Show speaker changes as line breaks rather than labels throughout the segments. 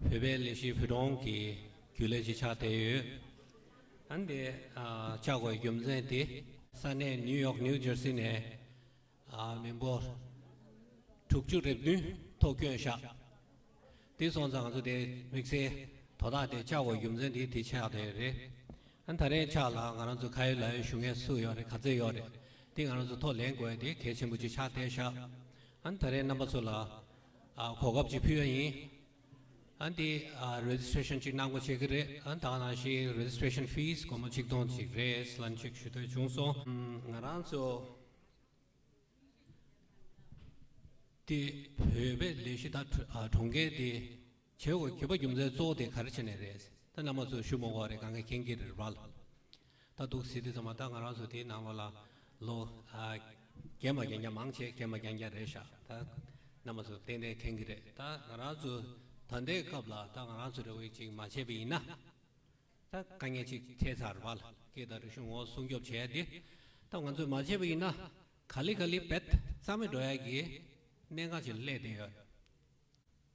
བོད་པའི་ལས་བྱེད་བུ་ཆུང་གི་རྒྱུ་ལས་བྱེད་ཆགས་བསྡད་ཡོད། ཨ་འདི་ཆགས་དགོས་རྒྱུ་མཚན་དེ། ས་གནས་ནིའུ་ཡོག New Jersey ནས་མི་འབོར་དྲུག་ཅུ་རེ་བདུན་ཐོག་སྐྱོན་ཆགས་དེ་སོང་ཙང་ང་ཚོ་དེ་དམིགས་བསལ་དོ་བདག་དེ་ཆགས་དགོས་རྒྱུ་མཚན་དེ་དེ་ཆགས་བསྡད་ཡོད་རེད། ཨ་ད་རེས་ཆགས་ལ་ང་རང་ཚོ་ཁ་ཡོད་ལག་ཡོད་ཞུ་ངེས་སུ་ཡོད་རེད་ག་ཚད་ཡོད་རེད་དེ་ང་རང་ཚོ་ཐོག་ལེན་དགོས་དེ་གལ་ཆེན་པོ་ཅིག་ཆགས་བསྡད་ཤག་ཨ་ད་རེས་རྣམ་པ་ཚོ་ལ་གོ་སྐབས་ཅིག་ཕུལ་བ་ཡིན། ཨ་འདི Registration ཅིག་གནང་སྒོ་བྱེད་ཀྱི་རེད་ཨ་དང་ནང་བཞིན Registration Fees སྒོར་མོ་ཆིག་སྟོང་ཅིག་རེད་ལན་ཅིག་ཞུ་འདོད་བྱུང་སོང། ང་རང་ཚོ་འདི་བོད་པའི་ལས་གཞི་དང་གྲོང་ཁྱེར་འདི་བྱེད་དགོས་བརྒྱུད་པ་རྒྱུ་མཚན་གཙོ་བོ་དེ་ག་རེ་བྱེད་ནས་རེད་ད་བླ་མ་ཚོས་ཞུ་མོ་གོ་རེད་གང་ག་གན་གི་རེད་རྦ་ལ་ད་སྡུག་ཟེ་དེ་ཚང་མ་ད་ང་རང་ཚོ་དེ་ནང་བ་ལ་ལོ་རྒན་པ་རྒན་རྒྱ་མང་ཆེ་རྒན་པ་རྒྱང་རྒྱང་རེད་ཤག་ད་བླ་མ་ཚོ་ཏན་ཏན་གན་གི་རེད་ད་ང་རང་ཚོ་ད་ལྟའི་སྐབས་ལ་ད་ང་རང་ཚོ་རེ་བས་ཅིག་མ་བྱས་པ་ཡིན་ན་ད་དཀའ་ངལ་ཅིག་འཕྲད་ཚར་རྦ་ལ་སྐད་ད་རིག་གཞུང་ངོ་སྲུང་སྐྱོབ་བྱས་ཡ་དེ་ད་ང་ཚོས་མ་བྱས་པ་ཡིན་ན་ག་ལི་ག་ལི་བེད་རྩ་མེད་འགྲོ་ཡ་གི་གནད་འགག་ཅིག་སླེབས་བསྡད་ཡོད།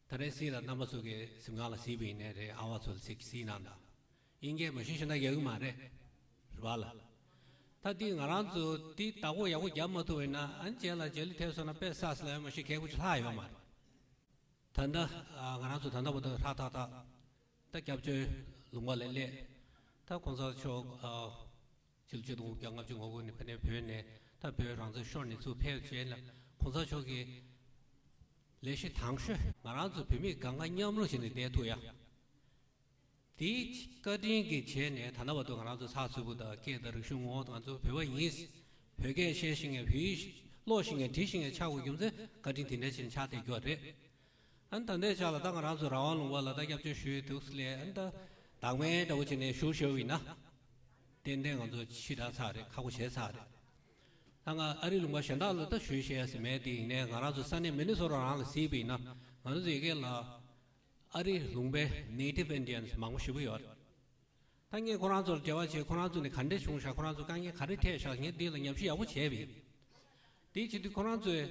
ད་རེས་སྲིད་ལ་རྣམ་པ་ཚུགས་ཀའི་གཟིམ་ཁང་ལ་གཟིགས་པ་ཡིན་ནའི་རེད་ཨ་བ་ཚོ་ལ་ཚིག་གཟིགས་གནང་དང་དབྱིན་སྐད་མ་ཤེས་ཤོ་ན་ཡག་གི་མ་རེད། རེ་བ་ལ། ད་འདི་ང་རང་ཚོ་འདི་བདག་པོ་ཡག་པོ་རྒྱབ་མ་ཐུབ་ཡིན་ན་ཨ་མཇལ་ལ་མཇལ་ལུགས་ཐེབས་སོང་ན་དཔེ་བསགས་སི་ལ་ཡོད་མ་ཤེས་མཁས་ཁུ་ཆུ་ལྷག་ཡོད་མ་རེད། ད་ནི་ང་རང་ཚོ་ད་ནག་པོ་འདུག་ཧྲག་ཐག་ཐག་ད་སྐྱབས་བཅོལ་ལུང་པ་ལས་སླེབས་ད་གོང་ས་མཆོག་ཕྱི་ལོ་བཅུ་དང་དགུ་བརྒྱ་ལྔ་བཅུ་ང་དགུ་ནས་ཕ་ནེ་བོད་ནས་ད་བོད་རང་བཙན་ཤོར་ནས་ཚུར་ཕེབས་རྗེས་ལ་གོང་ས་མཆོག་གིས། ལས་གཞི་དང་ཤོས། ང་རང་ཚོ་བོད་མི་དགའ་དགའ་མཉམ་རུང་བྱས་ནས་བསྡད་ཐུབ་ཡ། དེའི་བཀའ་དྲིན་གྱི་བྱས་ནས་ད་ལྟ་བར་དུ་ང་རང་ཚོ་ཚགས་ཚུད་པོ་དང་སྐད་དང་རིག་གཞུང་ངོ་ང་ཚོ་བོད་པ་ཡིན། བོད་སྐད་བཤད་ཤེས་ངེས་བོད་ཡིག་ཀློག་ཤེས་ངེས་བྲི་ཤེས་ངེས་ཆགས་དགོས་རྒྱུ་མཚན་བཀའ་དྲིན་དེ་འདྲའི་ཆེ་ནས་ཆགས་བསྡད་རྒྱུ་བ་རེད། ཨན་ད་འདས་ཆགས་ལ་ད་ང་རང་ཚོ་རང་དབང་ལུང་བ་ལ་ད་སྐྱབས་བཅོལ་ཞུས་འདུག་སི་ལའི་ཨན་ད་དྭགས་མའི་འདྲ་བོ་བྱེད་ནས་བཞུགས་ཤོར་བའི་ན། ཏན་ཏན་ང་ཚོ་ཕྱི་དྲག་ཚར་རེད་ཁག་པོ་བྱས་ཚར་རེད། ད་ང་ཨ་རི་ལུང་པ་གཞན་དག་ལ་ད་ཞུས་བྱེད་ཡ་ཟི་མེད་དེ་ཡིན་ནའི་ང་རང་ཚོ་ས་གནས་མི་ནི་སོ་རང་རང་ལ་གཟིགས་པའི་ན་ང་རང་ཚོ་ཡི་གེ་ལ་ཨ་རི་ལུང་པའི Native Indians མང་པོ་ཞིག་པོ་ཡོད་རེད། ད་ངས་ཁོ་རང་ཚོ་ལ་འབྲེལ་བ་བྱས་ཁོ་རང་ཚོ་ནས་ག་འདྲས་བྱུང་བཞག་ཁོ་རང་ཚོ་དཀའ་ངལ་ག་རེ་འཕྲད་བཞག་ངས་འདི་ལ་ཉམས་ཞིབ་ཡག་པོ་བྱས་པ་ཡིན། དེ་བྱེད་དུས་ཁོ་རང་ཚོའི།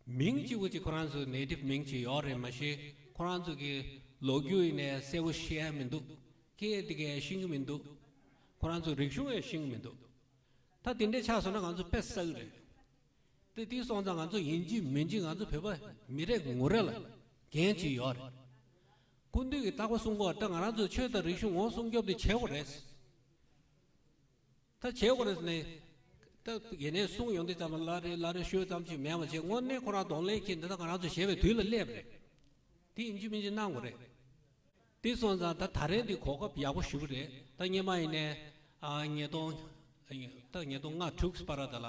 མིང་གཅིག་པོ་གཅིག་ཁོ་རང་ཚོའི་ནད་དེབ་མིང་གཅིག་ཡོག་རེད་མ་ཤེས་ཁོ་རང་ཚོ་གི་ལོ་རྒྱུ་ཡིན་ནས་གསལ་བོ་ཤེས་ཡ་མི་འདུག་སྐད་དེ་གས་ཤིང་གི་མི་འདུག་ཁོ་རང་ཚོ་རིག་གཞུང་ཡས་ཤིང་གི་མི་འདུག་ད་དེ་འདྲས་ཆགས་སོང་ན་ང་ཚོ་ཕེ་ས་གི་རེད་དེ་དེ་སོང་ཙང་ང་ཚོ་ཡིན་གཅིག་མིན་གཅིག་ང་ཚོ་བོད་པ་མི་རེ་ངོ་རེ་ལ་འགན་གཅིག་ཡོག་རེད་ཀུན་འདུས་གི་རྟག་པ་གསུང་གོ་ད་ང་རང་ཚོ་ཆོས་དང་རིག་གཞུང་ངོ་སྲུང་སྐྱོབ་དེ་བྱས་གོ་རེད། ད་བྱས་ཁོ་རེ་ནས། ད་གེ་ནས་གསུང་ཡོང་དུས་ཙམ་ལ་ལ་རེ་ལ་རེ་ཤོད་ཙམ་ཅིག་མེད་མ་བྱས་དངོས་གནས་ཁོ་རང་གདོང་ལེན་གྱིས་འདི་དག་ང་རང་ཚོ་བྱས་པའི་དུས་ལ་སླེབས་རེད། དེ་ཡིན་གཅིག་མིན་གཅིག་གནང་དགོས་རེད། དེ་སོང་ཙང་ད་ད་རེས་འདི་གོ་སྐབས་ཡག་པོ་ཞུ་གི་རེད་ད་སྙེ་མ་ཡིན་ནས། ཉིས་སྟོང། ད་ཉིས་སྟོང་ལྔ་དྲུག་སྤ་ར་ད་ལ།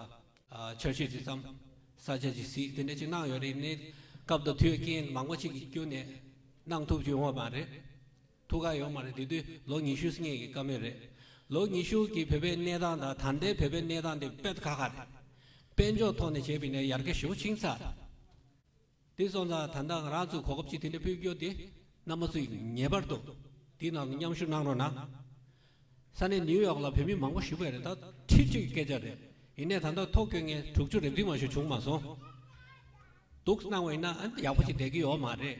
འཆར་གཞི་དེ་ཙམ། ས་ཆ་ཇི་སྲིད་དེ་འདྲ་ཅིག་གནང་ཡོད་རེད་ནས། སྐབས་དང་དུས་རྐྱེན་མང་པོ་ཅིག་གི་སྐྱོན་ནས། གནང་ཐུབ་ཀྱི་ཡོང་བ་མ་རེད། ཐུགས་ཁག་ཡོད་མ་རེད་དེ་དུས་ལོ་ཉི་ཤུ་སྔས་ཀྱི་དཀའ་མོས་རེད་ལོ་ཉི་ཤུ་གི་བོད་པའི་གནས་སྟངས་དང་ད་ལྟའི་བོད་པའི་གནས་སྟངས་དེ་དཔེ་ཁ་ཁ་རེད་དཔེ་འཇོག་ཐོག་ནས་བྱས་པའི་ནས་ཡར་གེ་ཞུ་ཆིང་ཚ་དེ་སོང་ཙང་ད་ནང་རང་ཚུགས་གོ་སྐབས་ཅིག་དེ་འདྲ་ཕུལ་རྒྱུ་དེ་གནམ་མ་ཚུགས་ངེས་པར་དུ་དེའི་ནང་དུ་མཉམ་ཞུགས་གནང་རོགས་གནང་ས་གནས་ནིའུ་ཡོག་ལ་བོད་མི་མང་པོ་བཞུགས་པས་རེད་ད་ཁྲི་བཅུ་ཡི་སྐད་ཆ་རེད་ཡིན་ནས་ད་ལྟ་ཐོག་ཁྱོད་ངས་དྲུག་ཅུ་རེབ་རིས་མ་ཞུ་བྱུང་མ་སོང་འདུག་གནང་བ་ཡིན་ན་ཡག་པོ་ཞིག་བསྡད་ཀྱི་ཡོད་མ་རེད།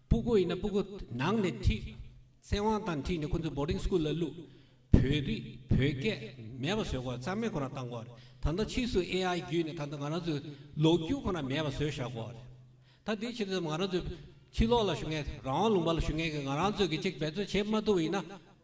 སྤུ་གུ་ཡིན་ན་སྤུ་གུ་ནང་ནས་ཁྲིད། ཚེ་དབང་དང་ཁྲིད་ནས་ཁོ་ཚོ Boarding School ལ་བླུགས། བོད་རིགས་བོད་སྐད་མེད་པ་བཟོས་གོ་རྩ་མེད་ཁོ་རང་བཏང་གོ། ད་ལྟ་ཕྱིས་སུ AI བརྒྱུད་ནས་ད་ལྟ་ང་རང་ཚོའི་ལོ་རྒྱུས་ཁོ་རང་མེད་པ་བཟོས་བཞག་གོ། ད་དེའི་ཕྱིར་ང་རང་ཚོས་ཕྱི་ལོགས་ལ་ཞུ་མཁན་རང་དབང་ལུང་པ་ལ་ཞུ་མཁན་གྱི་ང་རང་ཚོས་ཀྱི་ཅིག་འབད་བརྩོན་བྱེད་མ་ཐུབ་པ་ཡིན་ན།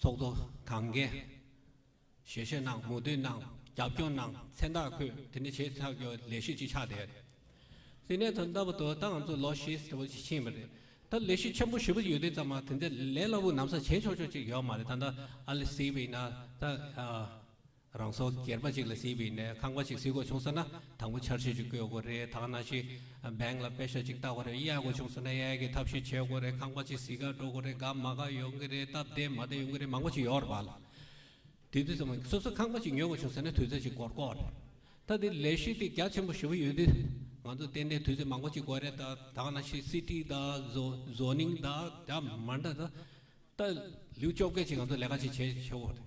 ཚོགས་གཙོ་གངས་རྒྱལ། ཞལ་བཞེས་གནང་མུ་འདེད་གནང་རྒྱབ་སྐྱོར་གནང་མཚན་རྟགས་འཁོད་དེ་ནས་བྱེད་ཐབས་ཀྱི་ལས་གཞི་གཅིག་ཆགས་བསྡད། སིད་ནས་ཐོན་སྟབས་དོ་བདག་ང་ཚོ་ལོ་ཤས་ཟེར་བ་ཞིག་ཕྱིན་པ་རེད། ད་ལས་གཞི་ཆེན་པོ་བཞི་པོ་ཡོད་དུས་ཙམ་མ་དེ་འདྲའི་ལས་སླ་བོ་ནམ་ཟ་བྱེད་ཆོག་ཆོག་ཅིག་ཡོད་མ་རེད་ད་ནི་ཨ་ལེ་སིད་པ་ཡིན་ན་ད། རང་སྲོག་སྒེར་པ་ཅིག་ལ་སྲིད་པའི་ནས་ཁང་པ་ཞིག་སྲིད་དགོས་བྱུང་ཟེར་ན་དང་པོ་འཆར་གཞི་ཞིག་བཀོད་དགོས་རེད་ཐ་ན་ཞིག Bank ལ་དཔེ་ཤ་ཅིག་བཏགས་པ་རེད་གཡས་དགོས་བྱུང་ཟེར་ན་གཡས་ཀྱི་ཐབས་ཤེས་བྱེད་དགོས་རེད་ཁང་པ་ཅིག་བཟི་ཁར་འགྲོ་དགོས་རེད་དགའ་མ་དགའ་ཡོང་གི་རེད་སྟབས་བདེ་མ་བདེ་ཡོང་གི་རེད་མང་པོ་ཞིག་ཡོད་རེད་བ་ལ་དེ་དུས་ཚོད་སོ་སོས་ཁང་པ་ཅིག་ཉོས་དགོས་བྱུང་ཟེར་ན་དུས་ཚོད་ཅིག་འགོར་དགོས་རེད་ད་དེ་ལས་གཞི་དེ་རྒྱ་ཆེན་པོ་ཞེ་བོ་ཡོད་དུས་ང་ཚོ་བརྟེན་ནས་དུས་ཚོད་མང་པོ་ཅིག་དགོས་རེད་ད་ཐ་ན་ཞིག་སྲིད་ཁྲི་དང Zoning དང་དེ་མ་འདྲ་ད་ལེའུ་བཅོ་བརྒྱད་ཅིག་ང་ཚོ་ལས་ཀ་ཅིག་བྱེད་ཆོག་གི་རེད།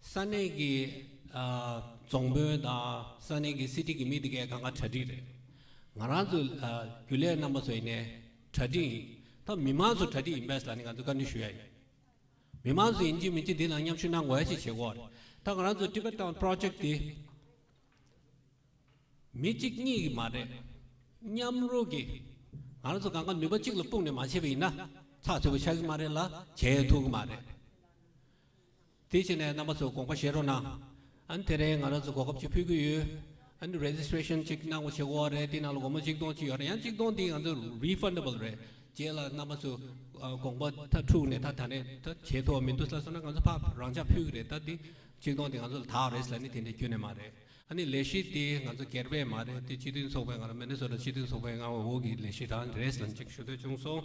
ས་གནས་ཀྱི་རྫོང་དཔོན་དང་ས་གནས་ཀྱི་སྲིད་ཁྲི་གི་མི་དེ་གས་ག་འང་གྲ་སྒྲིག་རེད། ང་རང་ཚོས་རྒྱུ་ལས་རྣམ་པ་ཚོ་ཡིན་ནས་གྲ་སྒྲིག་ཡིན། ད་མི་མང་ཚོ་གྲ་སྒྲིག་ཡིན་པས་ད་ནི་ང་ཚོས་བཀའ་འདྲི་ཞུ་ཡ་ཡིན། མི་མང་ཚོ་ཡིན་གཅིག་མིན་གཅིག་འདི་ལ་མཉམ་ཞུགས་གནང་དགོས་ཡ་ཞིག་བྱེད་དགོས་རེད། ད་ང་རང་ཚོ Tibet Town Project དེ་མི་གཅིག་གཉིས་ཀྱི་མ་རེད། མཉམ་རུབ་ཀྱིས་ང་རང་ཚོ་ག་འང་ནུས་པ་གཅིག་ལ་སྤུངས་ནས་མ་བྱས་པ་ཡིན་ན་ཚགས་ཚུད་པོ་ཆགས་ཀྱི་མ་རེད་ལ་བྱེད་ཐུབ་ཀྱི་མ་རེད། དེ་བྱས་ནས་རྣམ་པ་ཚོ་དགོངས་པ་བཞེས་རོགས་གནང། དེ་རིང་ང་རང་ཚོ་གོ་སྐབས་ཅིག་ཕུལ་གྱི་ཡོད། Registration ཅིག་གནང་བ་བྱེད་དགོས་བ་རེད་དེ་ནང་ལ་སྒོར་མོ་གཅིག་སྟོང་གཅིག་ཡོད་རེད་ཡང་གཅིག་སྟོང་དེ་ང་ཚོ Refundable རེད་རྗེས་ལ་རྣམ་པ་ཚོས་དགོངས་པ་མཐའ་འཁྲུགས་ནས་ད་ད་ནས་ད་བྱེད་ཐུབ་བ་མི་འདུག་ལ་སོང་ན་ང་ཚོ་ཕར་རང་འཇགས་ཕུལ་གྱི་རེད་ད་དེ་གཅིག་སྟོང་དེ་ང་ཚོ་ལ་དྭགས་རེས་ལ་ནི་དེ་འདྲའི་སྐྱོན་ནི་མ་རེད། ནི་ལས་གཞི་དེ་ང་ཚོ་སྒེར་པས་མ་རེད་དེ་སྤྱི་མཐུན་ཚོགས་པའི་ངང་ལ Minnesota སྤྱི་མཐུན་ཚོགས་པའི་ངང་ལ་འོག་གི་ལས་གཞི་རང་རེས་ལ་འཇིགས་ཞུ་འདོད་བྱུང་སོང།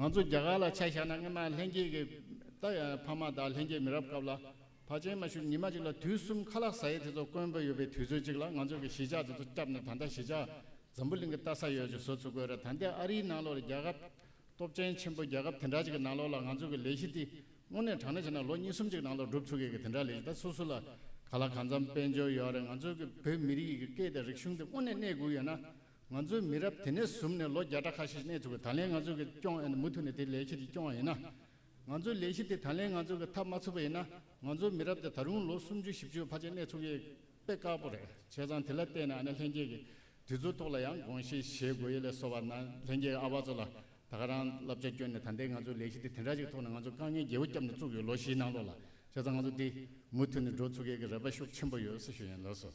ང་ཚོ་རྒྱ་གར་ལ་ཆ་བཞག་ན་སྔོན་མ་ལྷན་སྐྱེས་ཀྱི་རྟགས་ཡང་ཡང་ཕ་མ་དང་ལྷན་སྐྱེས་མི་རབས་སྐབས་ལ་ཕ་ཆེན་མ་ཞུ་ཉི་མ་གཅིག་ལ་དུས་གསུམ་ཁ་ལག་ཟ་ཡས་དེ་ཚོ་དཀོན་པོ་ཡོད་པའི་དུས་ཚོད་ཅིག་ལ་ང་ཚོས་ཀྱི་གཞིས་ཆགས་དེ་ཚོ་བསྐྱབས་ནས་ད་ལྟ་གཞིས་ཆགས་འཛམ་བུ་གླིང་གི་ལྟ་ས་ཡོད་ཅིག་བཟོ་ཚུ་དགོས་རེད་ད་འདི་ཨ་རིའི་ནང་ལོག་རེད་རྒྱ་ཁབ་སྟོབས་ཆེན་ཆེན་པོ་རྒྱལ་ཁབ་དེ་འདྲ་ཅིག་གི་ནང་ལོག་ལ་ང་ཚོས་ཀྱི་ལས་གཞི་དེ་སྔོན་ནས་དྲང་ན་བྱས་ན་ལོ་གཉིས་གསུམ་ཅིག་ནང་ལོག་འགྲུབ་ཚུ་གི་གི་དེ་འདྲ་ལས་གཞི་ད་སུ་སུ་ལ་ག་ལ་གང་འཚམ་དཔལ་འབྱོར་ཡོད་རེད་ང་ཚོས་ཀྱི་བོད་མི་རིགས་ཀྱི་སྐད་དང་རིག་གཞུང་དེ་སྔོན་ནས་གནས་དགོས་ཡོད་ན། ང་ཚོའི་མི་རབས་དེ་ནས་ཟུམ་ནས་ལོ་བརྒྱ་ཕྲག་ཁ་ཤས་གནས་ཚུལ་གྱི་ད་ལན་ང་ཚོ་གི་སྐྱོང་ཨེ་ན་མུ་མཐུད་ནས་དེ་ལས་ཁྱེད་ཀྱི་སྐྱོང་བ་ཡིན་ན། ང་ཚོའི་ལས་གཞི་དེ་ད་ལན་ང་ཚོ་གི་ཐབས་མ་ཚུགས་པ་ཡིན་ན་ང་ཚོའི་མི་རབས་དེ་ད་རུང་ལོ་སུམ་ཅུ་བཞི་བཅུའི་བར་ཆད་གནས་ཚུགས་ཡས་དཔེ་དཀར་པོ་རེད་བྱས་ཙང་དེ་ལ་བལྟས་ན་ཨ་ན་ལྷན་རྒྱས་ཀྱི་དུས་ཚོད་ཐོག་ལ་ཡང་དགོངས་བཞེས་བཞེས་དགོས་ཡས་ལས་སོ་བ་ན་ལྷན་རྒྱས་ཀྱི་ཨ་བ་ཚོ་ལ་ད་ག་རང་བསླབ་བྱ་བསྐྱོན་ནས་ད་ལྟའི་ང་ཚོའི་ལས་གཞི་དེ་དེ་འདྲ་ཞིག་ཐོག་ནས་ང་ཚོ་དཀའ་ངལ་རྒྱལ་བོ་སྐྱབས་ནས་བཙུགས་ཡོད་ལོ་བཞིའི་ནང་ལོགས་ལ་བྱས་ཙང་ང་ཚོ་དེ་མུ་མཐུད་ནས་འགྲོ་ཚུགས་ཡས་ཀྱི་རེ་བ་ཤུགས་ཆེན་པོ་ཡོད་སེ་ཞུ་ཡན་ལོས་སོ།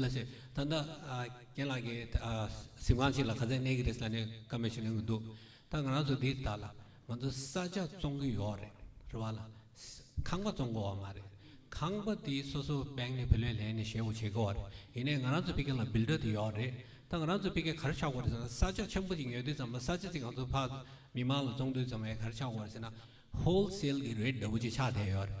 ལ་ཞེས་ད་ལྟ་རྒན་ལགས་ཀྱིས་གཟིམས་ཁང་ཞིག་ལ་ག་ཚད་གནས་ཀྱི་རེད་ཟེར་ནས་བཀའ་མོལ་བྱེད་ནུས་ཀྱི་འདུག་ད་ང་རང་ཚོ་འདི་དག་ལ་ང་ཚོ་ས་ཆ་བཙོང་གི་ཡོད་རེད་རེད་བ་ལ་ཁང་པ་བཙོང་དགོས་བ་མ་རེད་ཁང་པ་དེ་སོ་སོ་སྦེང་ནས་བུ་ལོན་ལེན་ནས་ཞེ་བོ་བྱེད་དགོས་བ་རེད་ཡིན་ནས་ང་རང་ཚོ་ཕི་གེ་ལ་འབིལ་སྒྲ་དེ་ཡོད་རེད་ད་ང་རང་ཚོ་ཕི་གེ་གར་ཆག་དགོས་རེད་ཟེར་ན་ས་ཆ་ཆེན་པོ་ཅིག་ཉོས་དུས་ཙམ་ལ་ས་ཆ་ཅིག་ང་ཚོ་ཕ་མི་མང་ལ་བཙོང་དུས་ཙམ་ལ་གར་ཆག་དགོས་རེད་ཟེར་ན་ཧོལ་སེལ་གྱི་རེད་འདྲ་བོ་ཅིག་ཆག་བསྡད་ཡོད་རེད་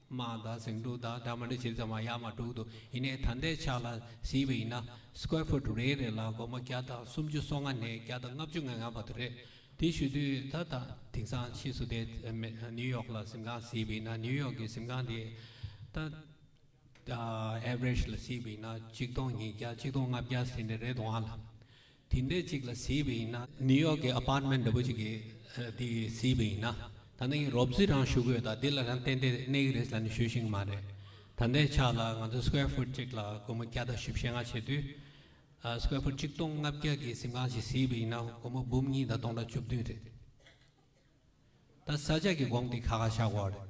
མ་དང་ཟིང་འཁྲུག་དང་སྦྲགས་མ་འདྲེས་ཕྱིར་ཚང་མ་ཡར་མར་དྲུག་ཏུ་ཡིན་ནས་ཐ་མདའི་ཆ་ལ་བཟི་བ་ཡིན་ན Square Foot རེ་རེ་ལ་སྒོར་མོ་བརྒྱ་དང་སུམ་ཅུ་སོ་ལྔ་ནས་བརྒྱ་དང་ལྔ་བཅུ་ང་ལྔ་བར་དུ་རེད། དེ་ཞུ་དུས་ད་ལྟ་དེང་སང་ཕྱིས་སུ་དེ New York ལ་གཟིམ་ཁང་བཟི་བ་ཡིན་ན New York གི་གཟིམ་ཁང་དེ་ད་ལྟ Average ལ་བཟི་བ་ཡིན་ན་གཅིག་སྟོང་ཉིས་བརྒྱ་གཅིག་སྟོང་ལྔ་བརྒྱ་ཟིན་ནི་རེད་འདུག་ཨང། དེ་འདྲའི་ཅིག་ལ་བཟི་བ་ཡིན་ན། ནིའུ་ཡོག་གི་ཨ་པར་མེན་འདྲ་པོ་ཅིག་གི་དེ་བཟི་བ་ཡིན་ན། ད་ནི་རོབ་བཟི་རང་ཞུ་གི་ཡོད་ད་དེ་ལ་རང་ཏན་ཏན་གནས་ཀྱི་རེད་ཟེར་ནས་ཞུ་བཞིན་གྱི་མ་རེད། ད་ལྟའི་ཆ་ལ་ང་ཚོ square foot ཅིག་ལ་སྒོར་མོ་བརྒྱ་དང་བཞི་བཞི་ལྔ་བྱེད་དུས། square foot གཅིག་སྟོང་ལྔ་བརྒྱ་གི་གཟིམ་ཁང་ཞིག་བཟི་བ་ཡིན་ན་སྒོར་མོ་འབུམ་གཉིས་དང་སྟོང་ཕྲག་བཅུ་བདུན་རེད། ད་ས་ཆ་གི་དགོངས་དེ་ཁ་ཁ་བཞག་གོ་རེད།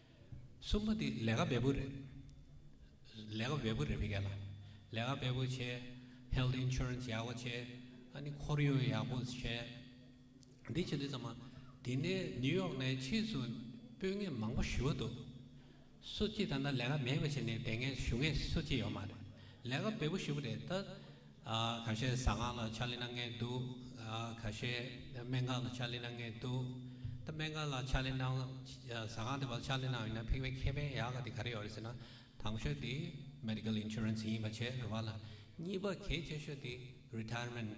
གསུམ་པོ་འདི་ལས་ཀ་འབེལ་པོ་རེད། ལས་ཀ་འབེལ་པོ་རེད་མི་འགལ་ལ། ལས་ཀ་འབེལ་པོ་བྱས། Health Insurance ཡག་པོ་བྱས། ཨ་ནི་ཁོར་ཡུག་ཡག་པོ་བྱས། འདི་བྱས་འདི་བྱས་མ། དེ་ནས New York ནས་ཕྱིས་སུ་དཔོན་ངན་མང་པོ་ཞུ་བ་འདུག། སུ་གཅིག་ད་ལྟ་ལས་ཀ་མེད་པ་བྱས་ནས་དེ་ངན་ཞུ་མཁན་སུ་གཅིག་ཡོད་མ་རེད། ལས་ཀ་འབེལ་པོ་ཞུ་གི་རེད། ད་ག་ཤེད་བཟའ་ཁང་ལ་ཕྱག་ལེན་གནང་ངེས་འདུག་ག་ཤེད་སྨན་ཁང་ལ་ཕྱག་ལེན་གནང་ངེས་འདུག་སྨན་ཁང་ལ་ཕྱག་ལེན་གནང་བཟའ་ཁང་དེ་བ་ལ་ཕྱག་ལེན་གནང་ཡོད་ན་ཕིང་བའི་ཁེ་ཕན་ཡག་ག་དེ་ག་རེ་ཡོད་རེད་ཟེར་ན་དང་ཤོས་དེ Medical Insurance ཡིན་པ་བྱས་རེ་བ་ལ་གཉིས་པ་གལ་ཆེ་ཤོས་དེ Retirement།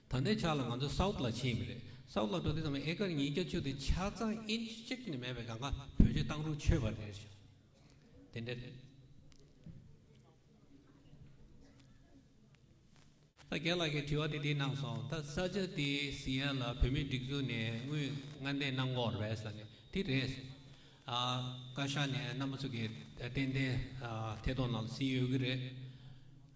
ད་ལྟའི་ཆར་ལ་ང་ཚོ South ལ་ཕྱིན་ཡོད་པ་རེད South ལ་འགྲོ་དུས་ཙམ་ཨེ་ཀར་ཉིས་བརྒྱ་ཆུ་དེ་ཆ་ཚང Inch གཅིག་ནས་མེད་པའི་གངས་ཀ་བོད་ཆུ་གཏང་རུང་ཆོད་པ་རེད་ཞོ་དེ་འདྲ་རེད། ད་རྒན་ལགས་ཀྱི་དྲི་བ་དེ་དེ་གནང་སོང་ད་ས་ཆ་དེ Seattle ལ་བོད་མིའི་སྒྲིག་འཛུགས་ནས་དངུལ་མངའ་འདེད་གནང་སྐོར West ལ་ནས་དེ་རེད་སོ་ཨ་བཀའ་ཤག་ནས་རྣམ་པ་ཚོ་གི་ཏན་ཏན་ཐད་གཏོང་གནང་སིན་ཡོད་ཀྱི་རེད།